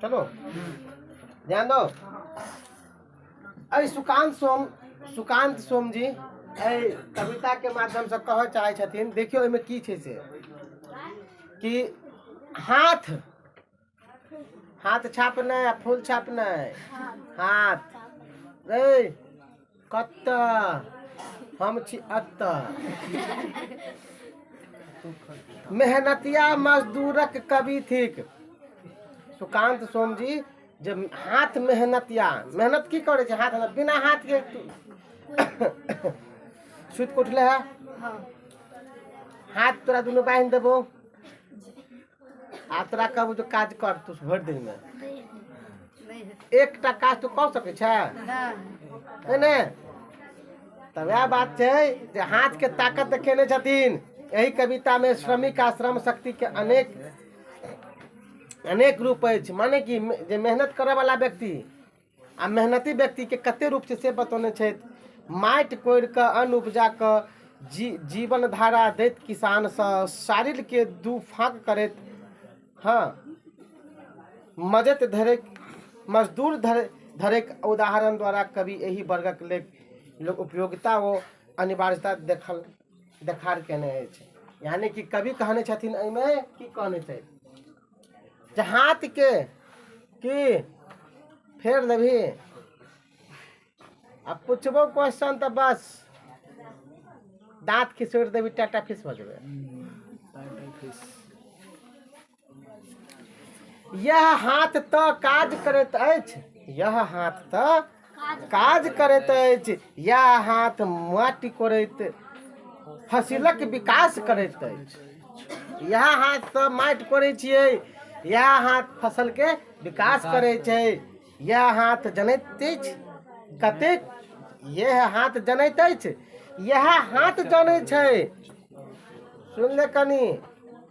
चलो ध्यान दो अरे सुकांत सोम सुकांत सोम जी एहि कविता के माध्यम से कह चाहे छथिन देखियो एहिमे की छै से कि हाथ हाथ छाप नहि आ फूल छाप नहि हाथ ए कतऽ हम छी अतऽ मेहनतिया मजदूरक कवि थिक सुकांत सोम जी जे हाथ मेहनतिया मेहनत की करै छै हाथ बिना हाथके सुति कऽ उठले है हाथ तोरा दुनू बान्हि देबो आ तोरा कहबू तू काज कर तू भरि दिन में एकटा काज तू कऽ सकै छै है ने तऽ वएह बात छै जे हाथ के ताकत देखेने छथिन एहि कविता में श्रमिक आ श्रम शक्ति के अनेक अनेक रूप अछि माने कि जे मेहनत करऽ वाला व्यक्ति आ मेहनती व्यक्तिके कते रूप छै से बतौने छथि माटि कोरि कऽ अन्न उपजा कऽ जी जीवन धारा दैत किसानसँ शारीरके दू फाँक करैत हँ मजैत धरैत मजदूर धरे धरैक उदाहरण द्वारा कवि एहि वर्गक लेल लोक उपयोगिता ओ अनिवार्यता देखल देखार कयने अछि यानि कि कवि कहने छथिन एहिमे की कहने छथि जे हाथ के की फेर देबही आ पुछबो क्वेश्चन तऽ बस दाँत खिसोड़ देबी टाटा फिस भऽ जेबै यह हाथ तऽ काज करैत अछि यह हाथ तऽ काज करैत अछि या हाथ माटि कोड़ैत फसिलक विकास करैत अछि इएह हाथसँ माटि कोड़ै छियै इएह हाथ फसलके विकास करै छै इएह हाथ जनैत अछि कतेक इएह हाथ जनैत अछि इएह हाथ जनै छै सुनि ले कनि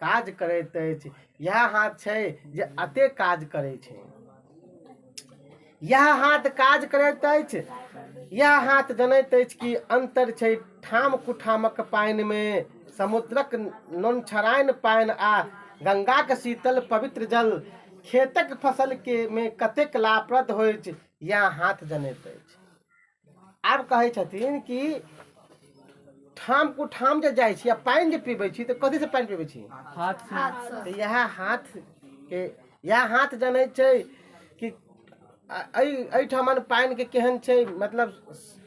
काज करैत अछि इएह हाथ छै जे एतेक काज करै छै इएह हाथ काज करैत अछि इएह हाथ जनैत अछि कि अन्तर छै ठाम कुठामक पानिमे समुद्रक नोनछराइन पानि आ गङ्गाक शीतल पवित्र जल खेतक फसलके मे कतेक लाभप्रद होइत इएह हाथ जनैत अछि आब कहै छथिन कि ठाम कुठाम जे जाइ छी आ पानि जे पीबै छी तऽ कथीसँ पानि पीबै छी हाथ से हाथसँ तऽ इएह हाथके इएह हाथ जनै छै कि आ- एहि एहिठामन पानिके केहन छै मतलब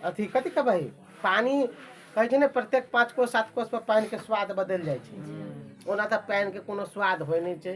अथी कथी कहबै पानि कहै छै ने प्रत्येक पाँच कोस सात कोसपर पानिके स्वाद बदलि जाइ छै ओना तऽ पानिके कोनो स्वाद होइ नहि छै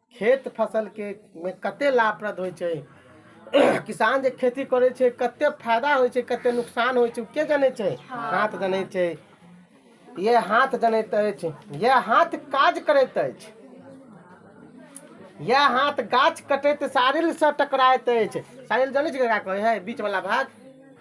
खेत फसलके मे कतेक लाभप्रद होइ छै किसान जे खेती करै छै कतेक फायदा होइ छै कतेक नुकसान होइ छै ओ के जनै छै हाथ जनै छै इएह हाथ जनैत अछि इएह हाथ काज करैत अछि इएह हाथ गाछ कटैत साड़िलसँ टकराइत अछि साड़िल जनै छियै ककरा कहै हइ बीचवला भाग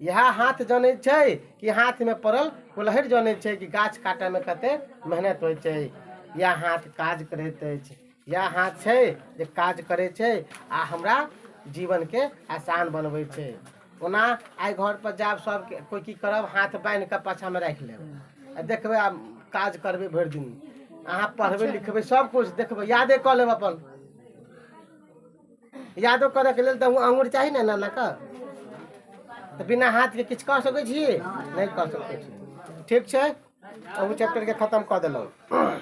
इएह हाथ जनै छै कि हाथमे पड़ल कुल्हड़ि जनै छै कि गाछ काटयमे कतेक मेहनत होइ छै इएह हाथ काज करैत अछि इएह हाथ छै जे काज करै छै आ हमरा जीवनके आसान बनबै छै ओना आइ घरपर जायब सभके कोइ की करब हाथ बान्हि कऽ पाछाँमे राखि लेब आ देखबै आब काज करबै भरि दिन अहाँ पढ़बै लिखबै सभकिछु देखबै यादे कऽ लेब अपन यादो करैके लेल तऽ अङ्गुर चाही ने एना एनाके तऽ बिना हाथके किछु कऽ सकै छी नहि कऽ सकै छी ठीक छै ओहू चैप्टरके खतम कऽ देलहुँ